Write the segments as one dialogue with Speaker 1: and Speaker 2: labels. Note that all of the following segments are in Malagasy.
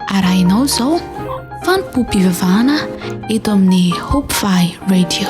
Speaker 1: arahinao izao fanompoam-pivavahana eto amin'ny Hope Valley Radio.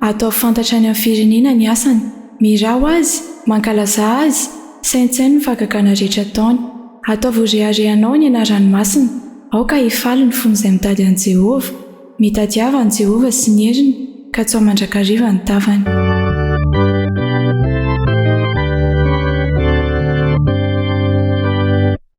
Speaker 2: Ataovy fantatra any amin'ny firenena ny asany. Miraho azy, mankalazà azy, saintsaino ny fahagagana rehetra ataony. Ataovy ho reharehanao ny anarany masina. Aoka hifaly ny fon'izay mitady an'i Jehovah. Mitadiava an'i Jehovah sy ny heriny, katsaho mandrakariva ny tavany.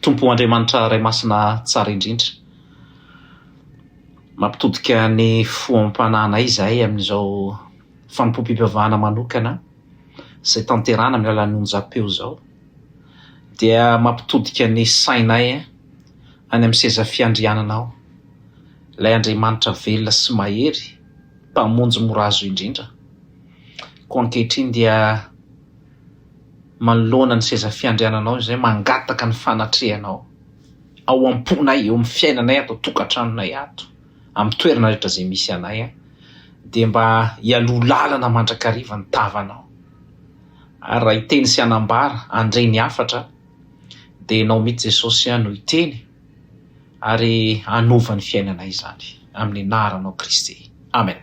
Speaker 3: Tompo Andriamanitra Ray Masina Tsara Indrindra, mampitodika ny fo amam-panahinay izahay amin'izao fanompoam-pivavahana manokana izay tanterahana amin'ny alalan'ny onjam-peo izao, dia mampitodika ny sainay any amin'ny seza fiandriananao, ilay Andriamanitra velona sy mahery, Mpamonjy mora azo indrindra. Koa ankehitriny dia. manoloana ny seza fiandriananao izay mangataka ny fanatrehanao ao am-ponay, eo amin'ny fiainanay ato an-tokantranonay ato, amin'ny toerana rehetra izay misy anay, dia mba hialoha lalana mandrakariva ny tavanao. Ary raha hiteny sy hanambara handre ny hafatra dia ianao mihitsy Jesosy no hiteny ary hanova ny fiainanay izany amin'ny anaranao Kristy. Amen.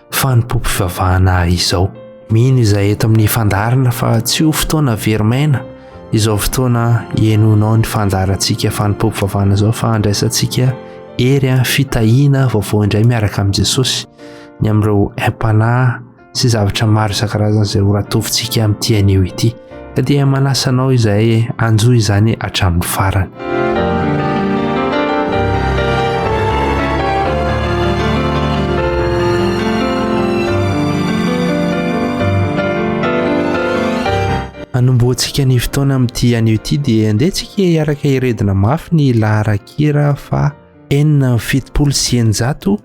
Speaker 4: fanompoam-pivavahana ahy izao. Mino izay eto amin'ny fandaharana fa tsy ho fotoana very maina izao fotoana ihainoanao ny fandaharantsika fanompoam-pivavahana izao fa handraisantsika hery an fitahiana vaovao indray miaraka amin'i Jesosy ny amin'ireo aim-panahy sy zavatra maro isan-karazany izay ho ratovintsika amin'ity anio ity. ka dia manasa anao izahay hanjo izany hatramin'ny farany anomboantsika ny fotoana amin'ity anio ity dia andehantsika hiaraka iredona mafy ny laharan-kira fa enina fitopolo sy eninjato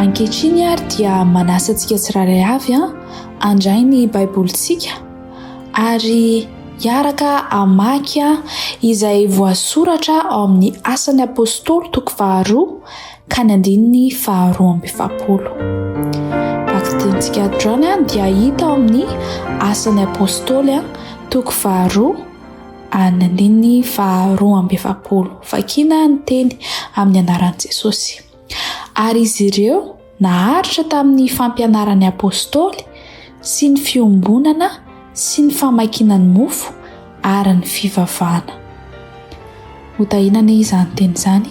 Speaker 1: Ankehitriny ary dia manasa antsika tsirairay avy handray ny Baibolintsika ary hiaraka hamaky izay voasoratra ao amin'ny Asan'ny Apostoly toko faharoa ka ny andininy faharoa amby efapolo. Bakidintsika John dia hita ao amin'ny asan'ny apôstôly toko faharoa an'ny andininy faharoa amby efapolo. Vakina ny teny amin'ny anaran'i Jesosy. Ary izy ireo naharitra tamin'ny fampianaran'ny apôstôly sy ny fiombonana sy ny famakiana ny mofo ary ny fivavahana. Hotahinana izany teny izany.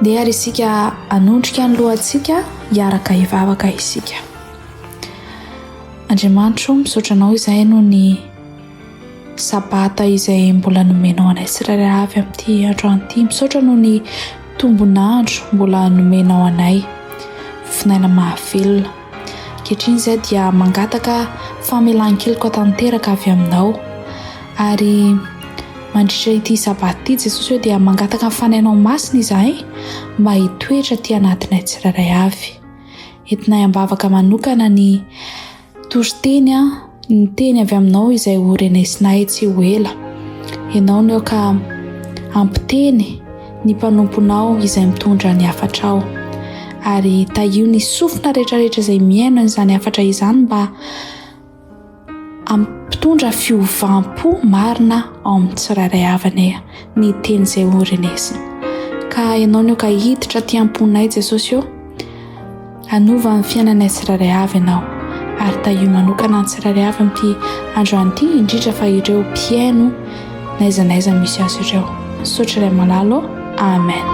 Speaker 1: Ndeha ary isika hanondrika ny lohantsika, hiaraka hivavaka isika. Andriamanitro, misaotra anao izay noho ny sabata izay mbola nomenao anay tsirairay avy amin'ity androany ity. Misaotra noho ny tombon'andro mbola nomenao anay, vinaina mahavelona. Ankehitriny izahay dia mangataka famelan-keloka tanteraka avy Aminao. Ary mandritra ity Sabata ity, Jesosy ô, dia mangataka ny Fanahinao Masina izahay mba hitoetra aty anatinay tsirairay avy. Entinay am-bavaka manokana ny toriteny, Ny teny avy aminao izay ho renesinay tsy ho ela. Ianao no ka hampiteny ny mpanomponao izay mitondra ny hafatrao. Ary tahio ny sofina rehetrarehetra izay mihaino an'izany hafatra izany mba hampitondra fiovampo marina ao amin'ny tsirairay avany ny teny izay ho renesiny. Ka ianao no ka hiditra aty am-ponay Jesosy ô. Hanova ny fiainanay tsirairay avy Ianao, ary tahio manokana ny tsirairay avy amin'ity androany ity, indrindra fa ireo mpihaino n'aiza n'aiza misy azy ireo. Misaotra Ray malala ô! Amen.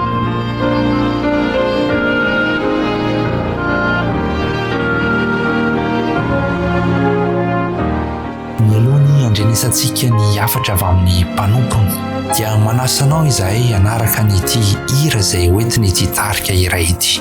Speaker 4: Mialohan'ny handrenesantsika ny hafatra avy amin'ny mpanompony, dia manasa anao izahay hanaraka an'ity hira izay hoentin'ity tarika iray ity.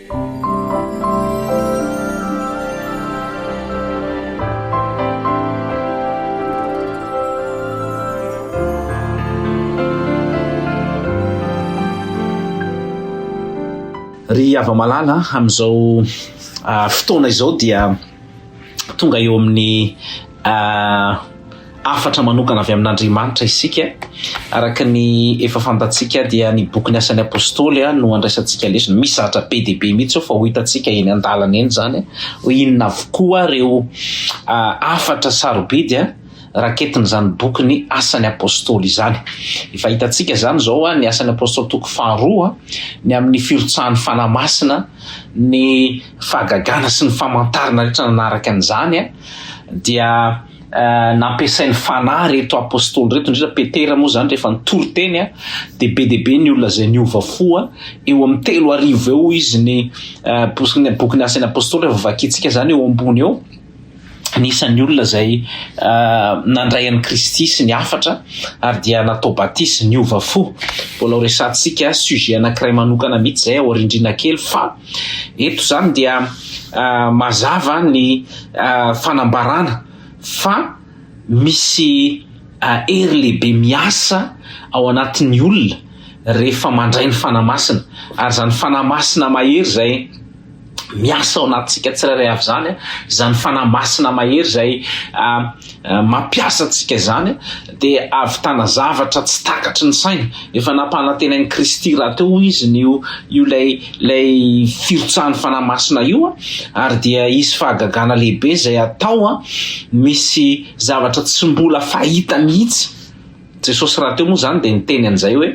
Speaker 3: Ry hava-malala, amin'izao fotoana izao dia tonga eo amin'ny. hafatra manokana avy amin'Andriamanitra isika. Araka ny efa fantatsika dia ny bokin'ny asan'ny apostoly no andraisantsika lesona. Misy zavatra be dia be mihitsy fa ho hitantsika eny an-dalana eny izany ho inona avokoa ireo hafatra sarobidy raketin'izany bokin'ny asan'ny apostoly izany. Efa hitantsika izany izao ny asan'ny apostoly toko faharoa ny amin'ny firotsahan'ny fanahy masina, ny fahagagana sy ny famantarana rehetra nanaraka an'izany. dia nampiasain'ny Fanahy ireto Apostoly ireto, indrindra Petera moa izany rehefa nitory teny dia be dia be ny olona izay niova fo, eo amin'ny telo arivo eo izy ny bokin'ny Asan'ny Apostoly rehefa vakintsika izany eo ambony eo, ny isan'ny olona izay nandray an'i Kristy sy ny hafatra ary dia natao batisa, niova fo, mbola ho resahantsika sujet anankiray manokana mihitsy izay aoriandriana kely fa. Eto izany dia mazava ny fanambarana fa misy hery lehibe miasa ao anatin'ny olona rehefa mandray ny Fanahy Masina ary izany Fanahy Masina mahery izay miasa ao anatintsika tsirairay avy izany, izany Fanahy Masina mahery izay mampiasa antsika izany dia ahavitana zavatra tsy takatry ny saina. Efa nampanantenain'i Kristy rahateo izy ny io io lay lay firotsahan'ny Fanahy Masina io ary dia hisy fahagagana lehibe izay hatao a misy zavatra tsy mbola fahita mihitsy Jesosy rahateo moa izany dia niteny an'izay hoe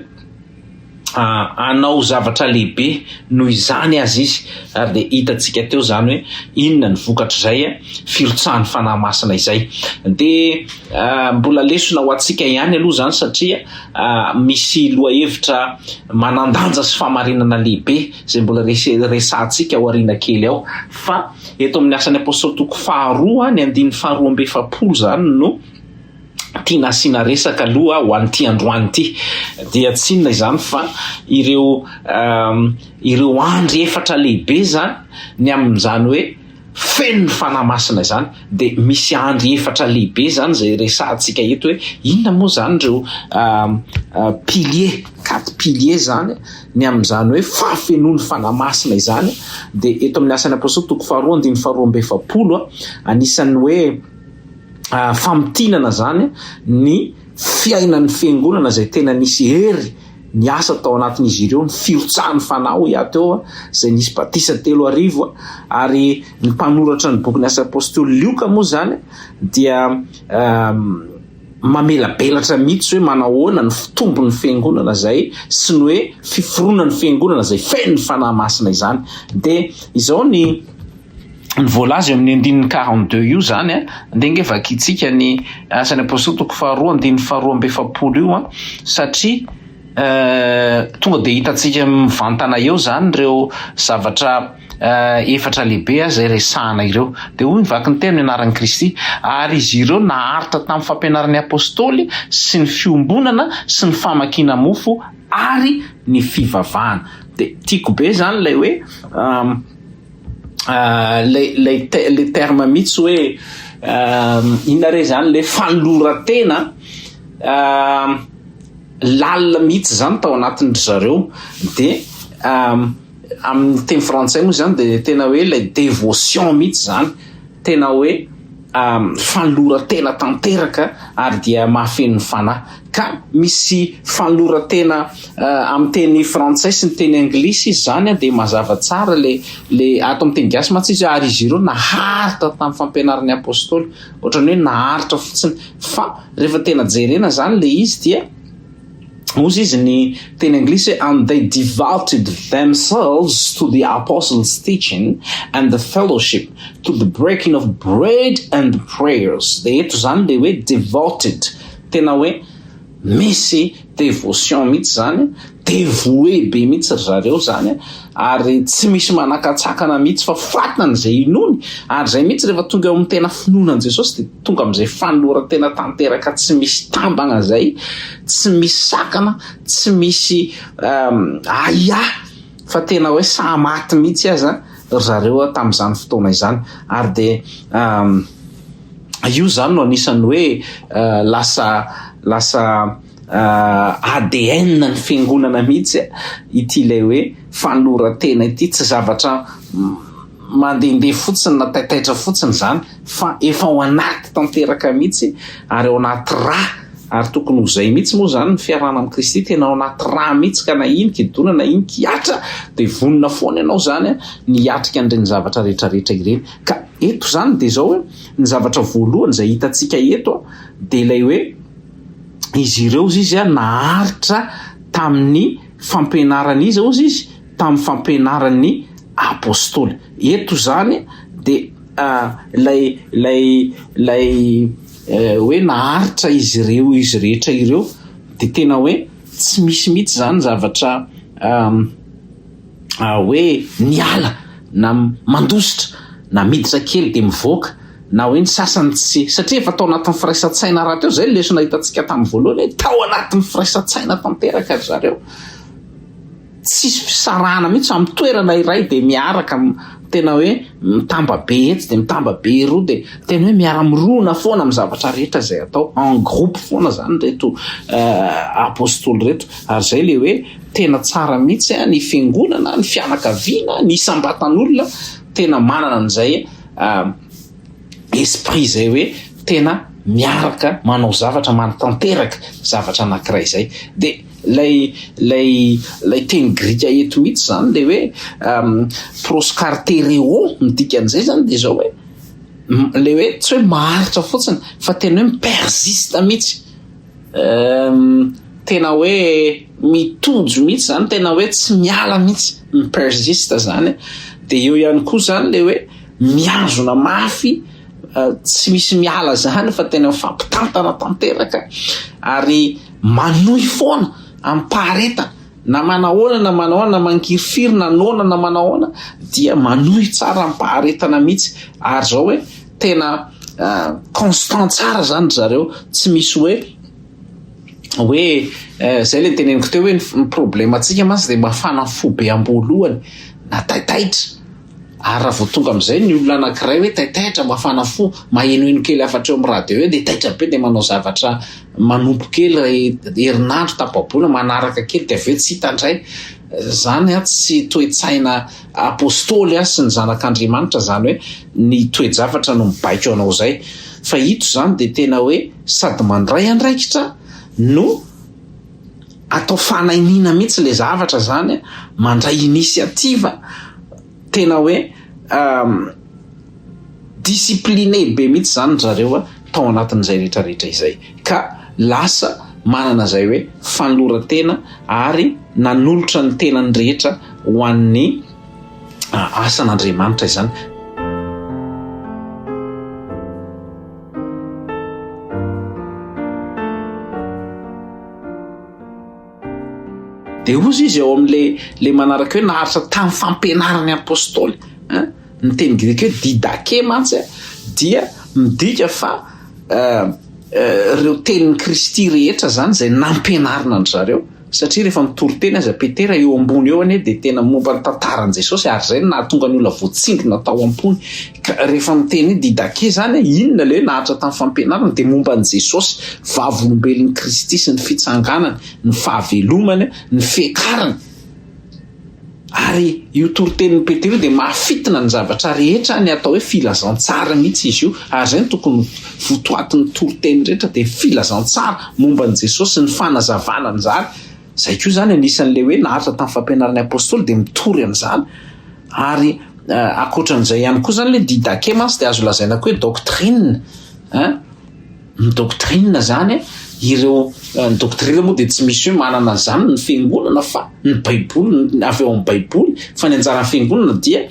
Speaker 3: hanao zavatra lehibe noho izany aza izy ary dia hitantsika teo izany hoe inona ny vokatr'izay firotsahan'ny Fanahy Masina izay. Dia mbola lesona ho antsika ihany aloha izany satria misy lohahevitra manan-danja sy fahamarinana lehibe izay mbola resahantsika ao aoriana kely ao fa eto amin'ny asan'ny Apostoly toko faharoa ny andininy faharoa amby efapolo izany no tiana asiana resaka aloha ho an'ity androany ity dia tsy inona izany fa ireo ireo andry efatra lehibe izany ny amin'izany hoe feno ny fanahy masina izany dia misy andry efatra lehibe izany izay resahantsika eto hoe inona moa izany ireo pilier quatre pilier izany ny amin'izany hoe fahafenoan'ny fanahy masina izany dia eto amin'ny asan'ny apostoly toko faharoa andin'ny faharoa amby efapolo a anisan'ny hoe famintinana zany ny fiainan'ny fiangonana izay tena nisy hery niasa tao anatin'izy ireo ny firotsahan'ny fanahy hoy aho teo izay nisy batisa telo arivo ary ny mpanoratra ny bokin'ny asa apostoly lioka moa zany dia mamelabelatra mihitsy hoe manahoana ny fitombon'ny fiangonana izay sy ny hoe fiforonan'ny fiangonana izay fen'ny fanahy masina izany dia izao ny ny voalaza eo amin'ny andininy quarante deux io izany a, andeha ange vakintsika ny Asan'ny Apostoly toko faharoa andininy faharoa amby efapolo io a, satria tonga dia hitantsika mivantana eo izany ireo zavatra efatra lehibe izay resahana ireo. Dia hoy ny vakin'ny teny anaran'i Kristy, ary izy ireo naharitra tamin'ny fampianaran'ny Apostoly sy ny fiombonana sy ny famakiana mofo ary ny fivavahana. Dia tiako be izany ilay hoe ilay ilay terme mihitsy hoe inona re zany le fanoloran-tena lalina mihitsy izany tao anatin-dry zareo de amin'ny teny frantsay moa izany de tena hoe ilay devotion mihitsy izany tena hoe fanoloran-tena tanteraka ary dia mahafeno ny fanahy. Ka misy fanoloran-tena amin'ny teny frantsay sy ny teny anglisy izy izany dia mazava tsara le le ato amin'ny teny gasy mantsy izy ary izy ireo naharitra tamin'ny fampianaran'ny apostoly ohatrany hoe naharitra fotsiny fa rehefa tena jerena izany le izy dia Hozy izy ny teny anglisy hoe and they devoted themselves to the apostles teaching and the fellowship to the breaking of bread and the prayers de eto zany le hoe devoted tena hoe misy devotion mihitsy zany devoue be mihitsy ry zareo zany ary tsy misy manakatsakana mihitsy fa fatana izay inoany, ary izay mihitsy rehefa tonga eo amin'ny tena finoana an'i Jesosy dia tonga amin'izay fanoloran-tena tanteraka tsy misy tambana izay, tsy misy sakana, tsy misy ahiahy fa tena hoe saha maty mihitsy aza ry zareo tamin'izany fotoana izany, ary dia io izany no anisan'ny hoe lasa lasa ADN ny fiangonana mihitsy ity ilay hoe fanoloran-tena ity, tsy zavatra mandehandeha fotsiny na taitaitra fotsiny izany fa efa ao anaty tanteraka mihitsy ary ao anaty ra ary tokony ho izay mihitsy moa izany ny fiarahana amin'i Kristy, tena ao anaty ra mihitsy ka na iny kidona na iny kihatra dia vonona foana ianao izany ny hiatrika an'ireny zavatra rehetrarehetra ireny ka eto izany dia izao hoe ny zavatra voalohany izay hitantsika eto dia ilay hoe izy ireo ozy izy a naharitra tamin'ny fampianaran'iza ozy izy tamin'ny fampianaran'ny apostoly eto zany de lay lay lay hoe naharitra izy ireo izy rehetra ireo de tena hoe tsy misy mihitsy zany zavatra hoe miala na mandositra na miditra kely dia mivoaka na hoe ny sasany tsy satria efa tao anatin'ny firaisan-tsaina rahateo izay ny lesona hitantsika tamin'ny voalohany hoe tao anatin'ny firaisan-tsaina tanteraka ry zareo tsisy fisarahana mihitsy amin'ny toerana iray dia miaraka tena hoe mitamba be etsy dia mitamba be eroa dia tena hoe miara-mirona foana amin'ny zavatra rehetra izay atao en groupe foana izany reto euh, apostoly reto ary izay le hoe Tena tsara mihitsy ny fiangonana, ny fianakaviana, ny isam-batan'olona tena manana an'izay esprit izay hoe tena miaraka manao zavatra, manatanteraka zavatra anankiray izay. Dia ilay ilay ilay teny grika eto mihitsy izany dia hoe proskartereo, ny dikan'izay izany dia izao hoe ilay hoe tsy hoe maharitra fotsiny fa tena hoe mi-persiste mihitsy. Ehm, tena hoe mitonjo mihitsy zany, tena hoe tsy miala mihitsy, mi-persiste zany. Dia eo ihany koa zany le hoe mihazona mafy, eh, tsy misy miala zany fa tena mifampitantana tanteraka ary manohy foana amim-paharetana na manao ahoana na manao ahoana na mangirifiry na noana na manao ahoana dia manohy tsara amim-paharetana mihitsy ary zao hoe tena constant tsara zany ry zareo tsy misy hoe hoe zay le teneniko teo hoe ny problème antsika mantsy dia mafana fo be am-boalohany na taitaitra ary raha vao tonga amizay ny olona anankiray hoe taitaitra mafana fo mahenoheno kely afatra eo amin'ny radio eo dia taitra be dia manao zavatra manompo kely herinandro tapabola manaraka kely dia avy eo tsy hita indray Zany a tsy toe-tsaina apostoly a sy ny zanak' Andriamanitra zany hoe ny toe-javatra no mibaiko anao zay fa ito zany dia tena hoe sady mandray andraikitra no atao fanainiana mihitsy le zavatra zany a mandray initiative Tena hoe discipline be mihitsy izany ry zareo tao anatin'izay rehetra rehetra izay ka lasa manana izay hoe fanoloran-tena ary nanolotra ny tenany rehetra ho an'ny asan'Andriamanitra izany. Dia hozy izy ao amin'ilay ilay manaraka hoe naharitra tamin'ny fampianaran'ny apostoly. Hein? Ny teny grika hoe didake mantsy eh, dia midika fa eh, eh, ireo tenin'i Kristy rehetra izany izay nampianarina an-dry zareo. Satria rehefa mitory teny aza Petera eo ambony eo anie dia tena momba ny tantaran'i Jesosy ary izay no nahatonga ny olona voatsindrona tao am-pony. Ka rehefa miteny hoe Didache izany hoe inona ilay hoe naharitra tamin'ny fampianarana dia momba an'i Jesosy, vavolombelon'i Kristy sy ny fitsanganany, ny fahavelomany, ny fiakarany. Ary io toritenin'i Petera io dia mahafitina ny zavatra rehetra ny atao hoe filazantsara mihitsy izy io. Ary izay no tokony votoatin'ny toriteny rehetra dia ny filazantsara momba an'i Jesosy sy ny fanazavana an'izany. Izay koa izany anisan'ilay hoe naharitra tamin'ny fampianaran'ny Apostoly dia mitory amin'izany ary ankoatran'izay ihany koa izany ilay didache mantsy dia azo lazaina koa hoe doctrine hein ny doctrine izany ireo ny doctrine moa dia tsy misy hoe manana an'izany ny fiangonana fa ny baiboly avy ao amin'ny baiboly fa ny anjaran'ny fiangonana dia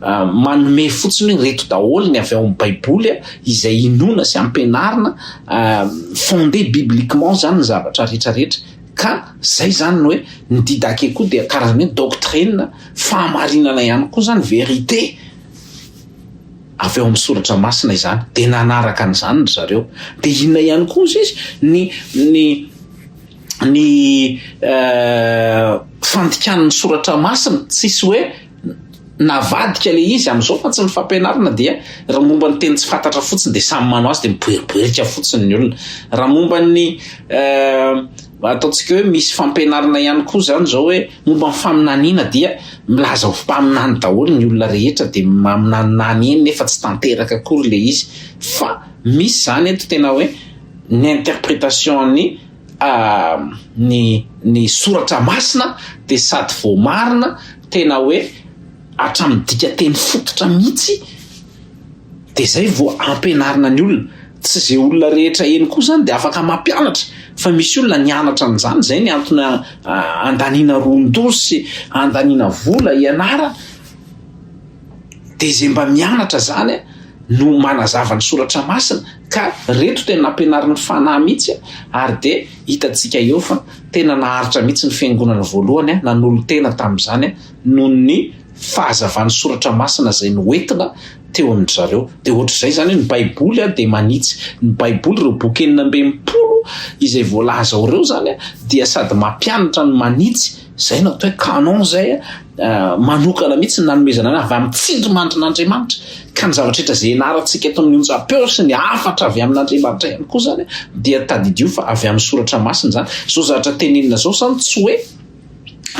Speaker 3: Manome fotsiny hoe reto daholo ny avy ao amin'ny baiboly izay inoana sy ampianarina fondé bibliquement zany ny zavatra rehetra rehetra ka zay zany ny hoe ny didake koa dia karazana hoe doctrine fahamarinana ihany koa zany vérité avy ao amin'ny soratra masina izany dia nanaraka an'izany ry zareo dia inona ihany koa izy izy ny ny ny euh, fandikan'ny soratra masina tsisy hoe Navadika le izy amizao fa tsy ny fampianarana dia ra momba ny teny tsy fantatra fotsiny dia samy manao azy dia miboeriboerika fotsiny ny olona. Ra momba ny ataontsika hoe misy fampianarana ihany koa zany zao hoe momba ny faminaniana dia milaza ho mpaminany daholo ny olona rehetra dia maminaninany eny nefa tsy tanteraka akory le izy fa misy zany eto tena hoe ny interpretation ny. ny ny soratra masina dia sady voamarina tena hoe hatramin'ny dikanteny fototra mihitsy dia zay vao ampianarina ny olona, tsy ze olona rehetra eny koa zany dia afaka mampianatra fa misy olona nianatra an'izany zay ny antony andaniana ron-doza sy andaniana vola hianarana dia ze mba mianatra zany no manazava ny soratra masina. Ka reto dia nampianarin'ny fanahy mihitsy ary dia hitantsika eo fa tena naharitra mihitsy ny fiangonana voalohany nanolo-tena tamin'izany noho ny fahazavan'ny soratra masina izay noentina teo amin-dry zareo. Dia ohatr'izay izany hoe ny baiboly dia manitsy. Ny baiboly, ireo boky enina ambin'ny folo izay voalaza ao ireo izany dia sady mampianatra no manitsy. Izay no atao hoe canon izay manokana mihitsy nanomezana ny avy amin'ny tsindrimandrin'Andriamanitra. Ka ny zavatra rehetra izay ianarantsika eto amin'ny onjam-peo sy ny hafatra avy amin'Andriamanitra ihany koa izany dia tadidio fa avy amin'ny soratra masina izany. Izao zavatra tenenina izao izany tsy hoe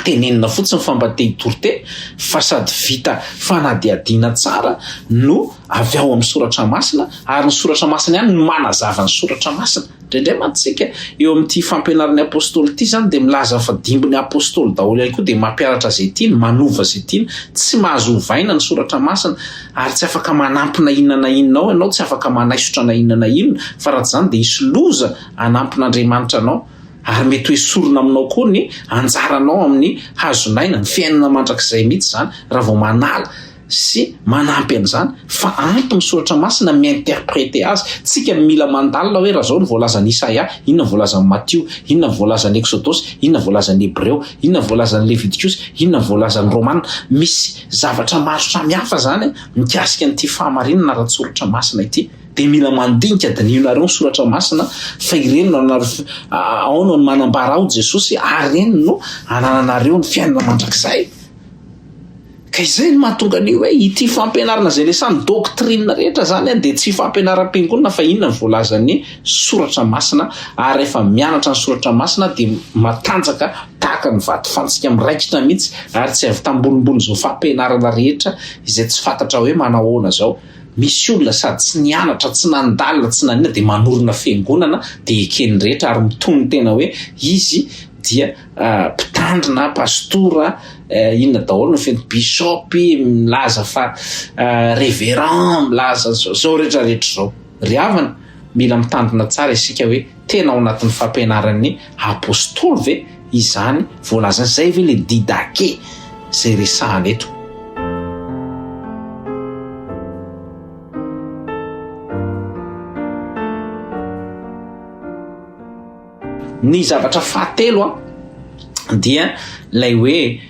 Speaker 3: tenenina fotsiny fa mba te hitoriteny fa sady vita fanadihadiana tsara no avy ao amin'ny soratra masina ary ny soratra masina ihany no manazava ny soratra masina. Indraindray mantsy isika eo amin'ity fampianaran'ny Apostoly ity izany dia milaza fa dimbin'ny Apostoly daholo ihany koa dia mampianatra izay tiany, manova izay tiany, tsy mahazo ovaina ny Soratra Masina ary tsy afaka manampy na inona na inona ao ianao, tsy afaka manaisotra na inona na inona fa raha tsy izany dia hisy loza hanampin'Andriamanitra anao ary mety ho esorina aminao koa ny anjaranao amin'ny hazon'aina, ny fiainana mandrakizay mihitsy izany raha vao manala sy manampy an'izany fa ampy ny soratra masina mi-interpreter azy, tsika no mila mandalina hoe raha zao no voalazan'i Isaia, inona no voalazan'i Matio, inona no voalazan'i Eksodosy, inona no voalazan'ny Hebreo, inona no voalazan'ny Levitikosy, inona no voalazan'ny Romana, misy zavatra maro samihafa zany mikasika an'ity fahamarinana ara-tsoratra masina ity dia mila mandinika, dinihinareo ny soratra masina fa ireny no ao no manambara aho Jesosy ary ireny no anananareo ny fiainana mandrakizay. Ka izay no mahatonga ny hoe ity fampianarana izay resahan'ny doctrine rehetra izany dia tsy fampianaram-piangonana fa inona no voalazan'ny soratra masina ary rehefa mianatra ny soratra masina dia matanjaka tahaka ny vato fantsika miraikitra mihitsy ary tsy avy tambolimbolin'izao fampianarana rehetra izay tsy fantatra hoe manao ahoana izao misy olona sady tsy nianatra tsy nandalina tsy nanina dia manorina fiangonana dia eken'ny rehetra ary mitony tena hoe izy dia mpitandrina a, pastora a, inona daholo ny feniteny, bishop, milaza fa reverend, milaza an'izao, zao rehetra rehetra zao. Ry havana, mila mitandrina tsara isika hoe tena ao anatin'ny fampianaran'ny apostoly ve izany voalazany, zay ve le didake zay resahana eto. Ny zavatra fahatelo a dia lay hoe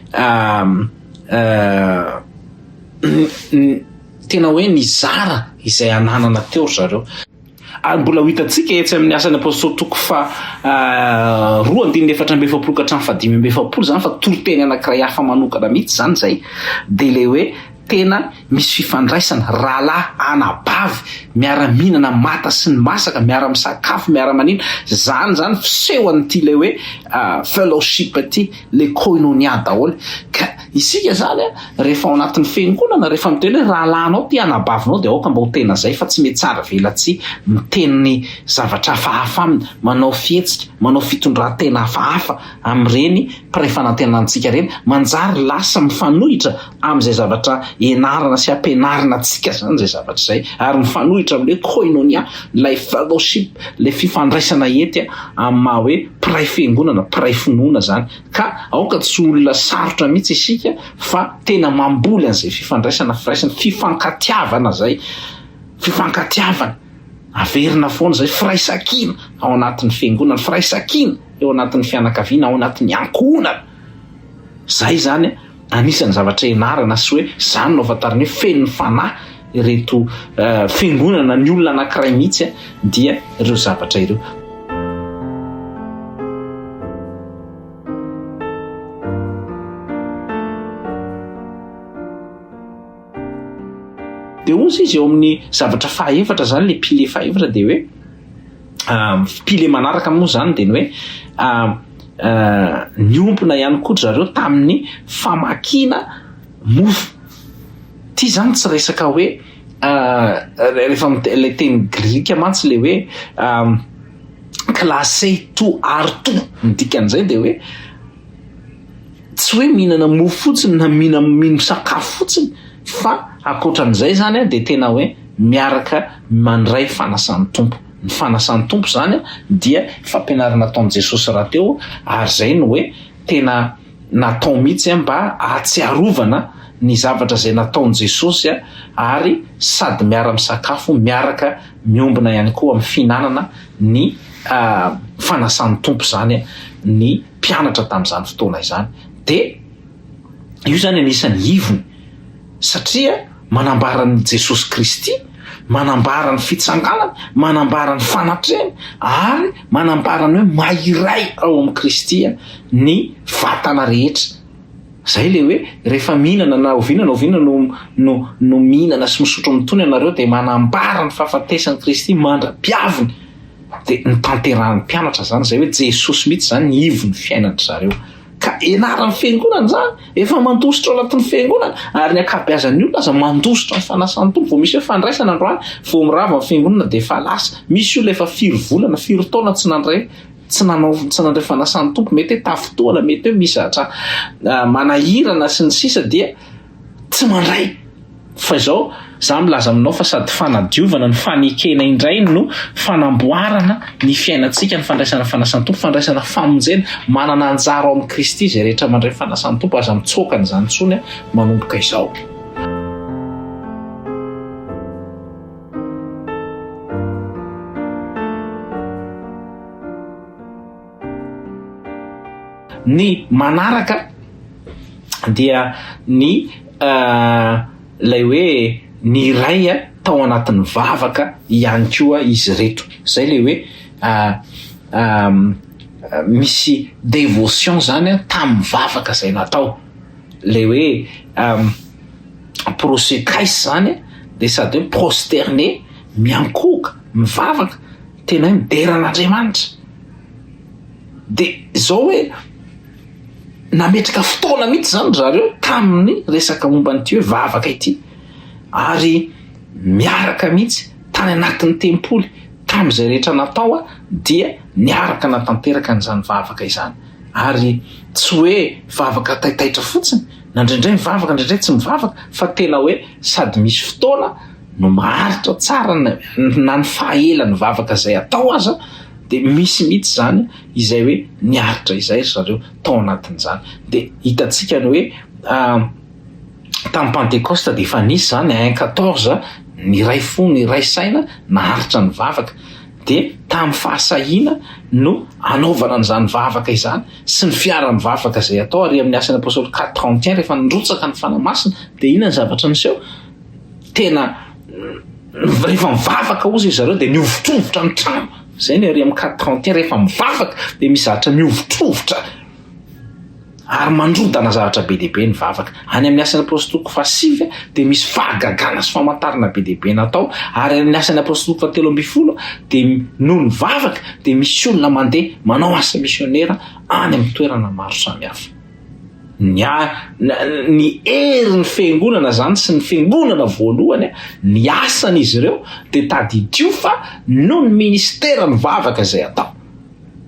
Speaker 3: tena hoe nizara izay ananana teo ry zareo. Ary mbola ho hitantsika etsy amin'ny Asan'ny Apostoly toko faha roa andininy efatra amby efapolo ka hatramin'ny fahadimy amby efapolo izany fa toriteny anankiray hafa manokana mihitsy izany izay dia ilay hoe Tena misy fifandraisana, rahalahy, anabavy, miara-mihinana mata sy ny masaka, miara-misakafo, miara-manina, zany zany fisehon'ity le hoe fellowship ty, le koinonia daholo. Ka isika zany rehefa ao anatin'ny fiangonana, rehefa miteny hoe rahalahinao ty, anabavinao dia aoka mba ho tena zay fa tsy mety saravelatsihy miteny zavatra hafahafa aminy, manao fihetsika, manao fitondran-tena hafahafa amin'ireny mpiray fanantenantsika ireny, manjary lasa mifanohitra, amin'izay zavatra ianarana sy ampianarina antsika izany izay zavatra izay ary mifanohitra amin'ny hoe koinonia, ilay fellowship, ilay fifandraisana hety amin'ny maha hoe mpiray fiangonana, mpiray finoana izany. Ka aoka tsy ho olona sarotra mihitsy isika fa tena mamboly an'izay fifandraisana, firaisana, fifankatiavana izay, fifankatiavana, averina foana izay, firaisankina ao anatin'ny fiangonana, firaisankina eo anatin'ny fianakaviana, ao anatin'ny ankohonana. Izay izany anisan'ny zavatra ianarana sy hoe izany no ahafantarana hoe feno fanahy ireto fiangonana ny olona anankiray mihitsy dia ireo zavatra ireo. Dia hoy izy eo amin'ny zavatra fahaefatra izany, ilay pilier fahaefatra dia hoe. pile manaraka moa zany dia ny hoe niompona ihany koa dry zareo tamin'ny famakiana mofo ity zany tsy resaka hoe rehefa ilay teny grika mantsy le hoe classé to ary to ny dikan'izay dia hoe tsy hoe mihinana mofo fotsiny na mihina mino sakafo fotsiny fa ankoatran'izay zany a dia tena hoe miaraka mandray fanasan'ny Tompo ny fanasan'ny Tompo zany a dia fampianarana ataon'i Jesosy rahateo ary zay no hoe tena natao mihitsy a mba ahatsiarovana ny zavatra zay nataon'i Jesosy a ary sady miara-misakafo miaraka miombona ihany koa amin'ny fihinanana ny fanasan'ny Tompo izany ny mpianatra tamin'izany fotoana izany dia io izany anisan'ny ivony satria manambara an'i Jesosy Kristy, manambara ny fitsanganany, manambara ny fanatrehany ary manambara ny hoe maha iray ao amin'i Kristy ny vatana rehetra. Zay le hoe rehefa mihinana na oviana na oviana no no no mihinana sy misotro mitony anareo dia manambara ny fahafatesan'i Kristy mandra-piaviny dia notanterahin'ny mpianatra zany zay hoe Jesosy mitsy zany ny ivon'ny fiainandry zareo ka ianaran'ny fiangonana zany efa mandositra ao anatin'ny fiangonana ary ny ankabeazan'ny olona aza mandositra ny fanasan'ny tompo vao misy hoe fandraisana androany vao mirava ny fiangonana dia efa lasa misy olona efa firy volana firy taona tsy nandray tsy nanao tsy nandray fanasan'ny tompo mety hoe tafintoana mety hoe misy zatra manahirana sy ny sisa dia tsy mandray fa izao za milaza aminao fa sady fanadiovana ny fanekena indray no fanamboarana ny fiainantsika ny fandraisana fanasan'ny tompo fandraisana famonjena manana anjara ao amin'ny kristy izay rehetra mandray fanasan'ny tompo aza mitsoaka an'izany tsony manomboka izao Ny manaraka dia ny ilay hoe ny iray tao anatin'ny vavaka ihany koa izy ireto. Izay ilay hoe misy dévotion izany tamin'ny vavaka izay natao. Ilay hoe. prosecaise zany de sady hoe prosterne miankohoka mivavaka tena hoe midera an'Andriamanitra de zao hoe nametraka fotoana mihitsy zany ry zareo tamin'ny resaka momba an'ity hoe vavaka ity ary miaraka mihitsy tany anatin'ny tempoly tamin'izay rehetra natao a dia niaraka natanteraka an'izany vavaka izany ary tsy hoe vavaka taitaitra fotsiny na indraindray mivavaka indraindray tsy mivavaka fa tena hoe sady misy fotoana no maharitra tsara na ny fahaela ny vavaka izay atao aza dia misy mihitsy izany izay hoe niaritra izay ry zareo tao anatin'izany dia hitantsika ny hoe ah, tamin'ny pantekosta dia efa nisy izany un quatorze ny iray fo ny iray saina naharitra ny vavaka Dia tamin'ny fahasahiana no anaovana an'izany vavaka izany sy ny fiara-mivavaka izay atao ary amin'ny asan'ny Apostoly quatre trente et un rehefa nirotsaka ny Fanahy Masina dia inona ny zavatra niseho? Tena rehefa mivavaka hozy izareo dia nihovitrovitra ny trano izay ny ary amin'ny quatre trente et un rehefa mivavaka dia mizatra mihovitrovitra ary mandrodana zavatra be dia be ny vavaka. Any amin'ny Asan'ny Apostoly toko fahasivy dia misy fahagagana sy famantarana be dia be natao, ary any amin'ny Asan'ny Apostoly toko fahatelo ambin'ny folo dia noho ny vavaka dia misy olona mandeha manao asa misionera any amin'ny toerana maro samihafa. Ny, ny herin'ny fiangonana izany sy ny fiangonana voalohany, ny asan'izy ireo dia tadidio fa noho ny ministeran'ny vavaka izay atao.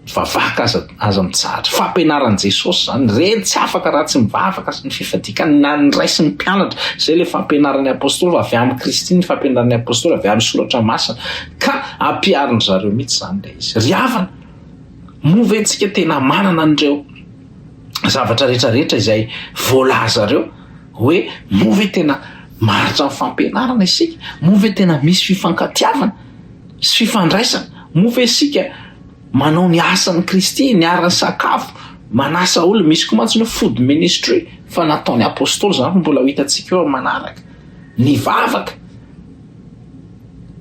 Speaker 3: Mivavaka aza aza mitsahatra. Fampianaran'i Jesosy izany. Reny tsy afaka raha tsy mivavaka sy ny fifadikan na ny Ray sy ny mpianatra. Izay ilay fampianaran'ny Apostoly fa avy amin'i Kristy ny fampianaran'ny Apostoly avy amin'ny Soratra Masina. Ka ampiharin-dry zareo mihitsy izany ilay izy. Ry havana, moa ve tsika tena manana an'ireo zavatra rehetra rehetra izay voalazareo hoe moa ve tena maharitra ny fampianarana isika? Moa ve tena misy fifankatiavana? sy fifandraisana. Moa ve isika manao ny asan'i Kristy, niara-nisakafo, manasa olona? Misy koa mantsy ny hoe food ministry, fa nataon'ny apostoly izany, fa mbola ho hitantsika eo amin'ny manaraka. Nivavaka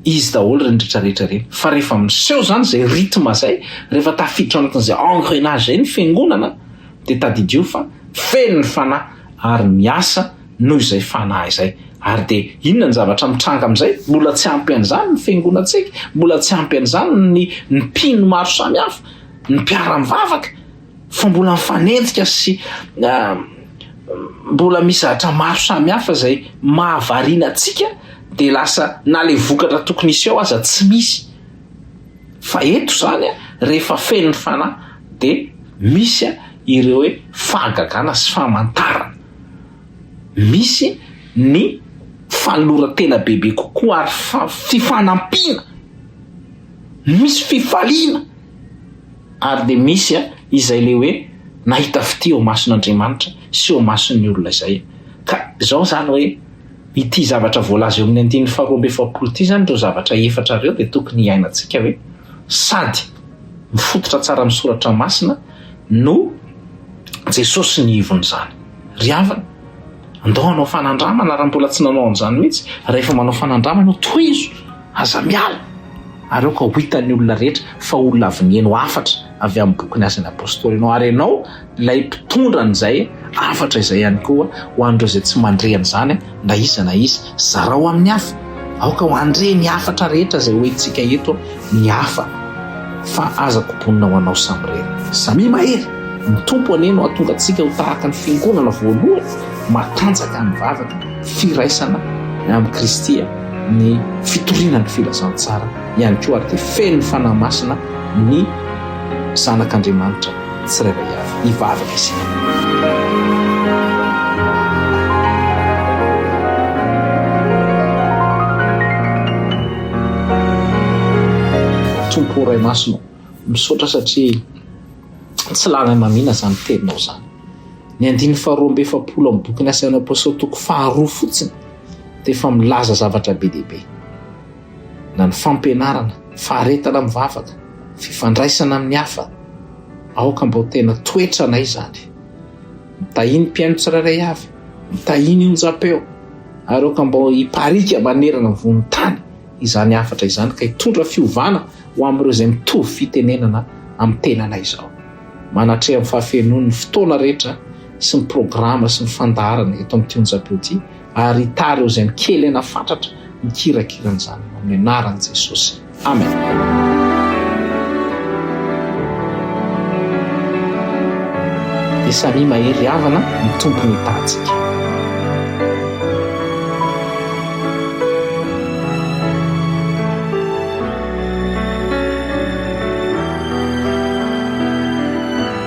Speaker 3: izy daholo ireny rehetrarehetra ireny. Fa rehefa miseho izany izay rythme izay, rehefa tafiditra anatin'izay engrenage izay ny fiangonana, dia tadidio fa feno ny fanahy ary miasa noho izay fanahy izay. Ary dia inona ny zavatra mitranga amin'izay? Mbola tsy ampy an'izany ny fiangonantsika, mbola tsy ampy an'izany ny mpino maro samihafa, ny mpiara-mivavaka, fa mbola mifanenjika sy mbola misy zavatra maro samihafa izay mahavariana antsika, dia lasa na ilay vokatra tokony hisy ao aza tsy misy. Fa eto izany rehefa feno ny fanahy dia misy ireo hoe fahagagana sy famantarana. misy ny fanoloran-tena bebe kokoa ary fifanampiana, misy fifaliana ary dia misy izay le hoe nahita fitia eo mason'Andriamanitra sy eo mason'ny olona izay ka izao izany hoe ity zavatra voalaza eo amin'ny andininy faharoa amby efapolo ity izany ireo zavatra efatra ireo dia tokony hiainantsika hoe sady mifototra tsara amin'ny soratra masina no Jesosy ny ivon'izany. Ry havana, andao hanao fanandramana raha mbola tsy nanao an'izany mihitsy. Rehefa manao fanandramana ianao, tohizo, aza miala, ary aoka ho hitan'ny olona rehetra fa olona avy nihaino hafatra avy amin'ny bokin'ny Asan'ny Apostoly ianao, ary ianao ilay mpitondra an'izay hafatra izay ihany koa ho an'ireo izay tsy mandre an'izany. na iza na iza. Zarao amin'ny hafa. Aoka ho andre ny hafatra rehetra izay hoentintsika eto ny hafa fa aza kobonina ho anao samirery. Samia mahery, ny Tompo anie no hahatonga antsika ho tahaka ny Fiangonana voalohany matanjaka amin'ny vavaka, firaisana amin'i Kristy, ny fitoriana ny filazantsara ihany koa ary dia feno ny Fanahy Masina ny Zanak'Andriamanitra. tsirairay avy. Hivavaka isika. Tompo ô Ray Masina ô, misaotra satria tsy lalan'ny mamina izany teninao izany. Ny andininy faharoa amby efapolo amin'ny bokin'ny asan'ny Apostoly toko faharoa fotsiny dia efa milaza zavatra be dia be. na ny fampianarana, faharetana mivavaka, fifandraisana amin'ny hafa, aoka mba ho tena toetranay izany. Mitahy ny mpihaino tsirairay avy, mitahy ny onjam-peo, ary aoka mba hipariaka manerana ny vohon-tany izany hafatra izany ka hitondra fiovana ho amin'ireo izay mitovy fitenenana amin'ny tenanay izao. Manatreha amin'ny fahafenoan'ny fotoana rehetra sy ny programa sy ny fandaharana eto amin'ity onjam-peo ity Ary hitary eo izay mikely aina fatratra ny kirakiran'ny zanany amin'ny anaran'i Jesosy. Amen. dia samia mahery havana ny tompony hitantsika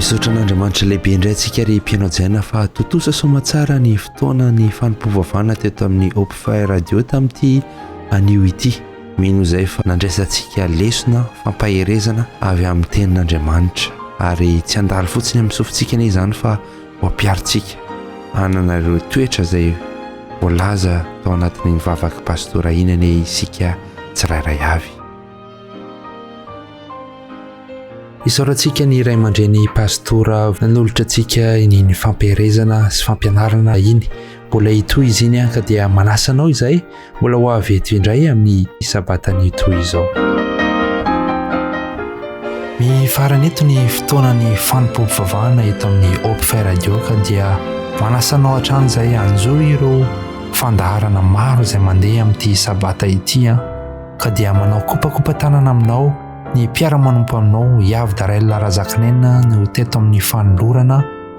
Speaker 4: Misaotra an'Andriamanitra lehibe indray antsika ry mpihaino hajaina fa tontosa somatsara ny fotoana ny fanompoavavana teto amin'ny Hope Fire Radio tamin'ity anio ity. Mino izay fa nandraisantsika lesona fampaherezana avy amin'ny Tenin'Andriamanitra, ary tsy handalo fotsiny amin'ny sofintsika anie izany fa ho ampiharintsika hanana ireo toetra izay voalaza tao anatin'iny vavaka pastora iny anie isika tsirairay avy. Isaorantsika ny ray aman-dreny pastora nanolotra antsika iny fampiherezana sy fampianarana iny. Mbola hitohy izy iny ka dia manasa anao izay Mbola ho avy eto indray amin'ny sabatan'io toy izao. Mifarana eto ny fotoanan'ny fanompoam-pivavahana eto amin'ny Hope Fair Radio ka dia manasa anao hatrany izay hanjo ireo fandaharana maro izay mandeha amin'ity sabata ity an ka dia manao kopakopa tanana aminao ny mpiara-manompo aminao Yavy Darel Razakanenina no teto amin'ny fanolorana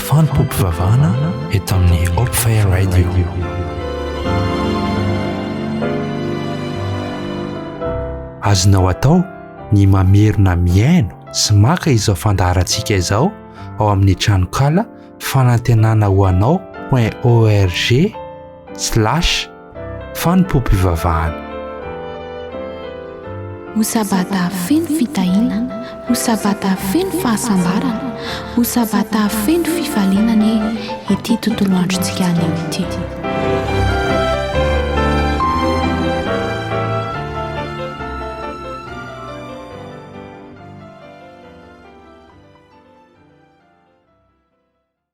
Speaker 4: Fanompoam-pivavahana eto amin'ny Hope Fire Radio. azonao atao ny mamerina mihaino sy maka izao fandaharantsika izao ao amin'ny tranokala fanantenana ho anao point org slash fanompoam-pivavahana.
Speaker 1: Ho sabata feno fitahiana, ho sabata feno fahasambarana, ho sabata feno fifaliana anie ity tontolo androntsika anio ity.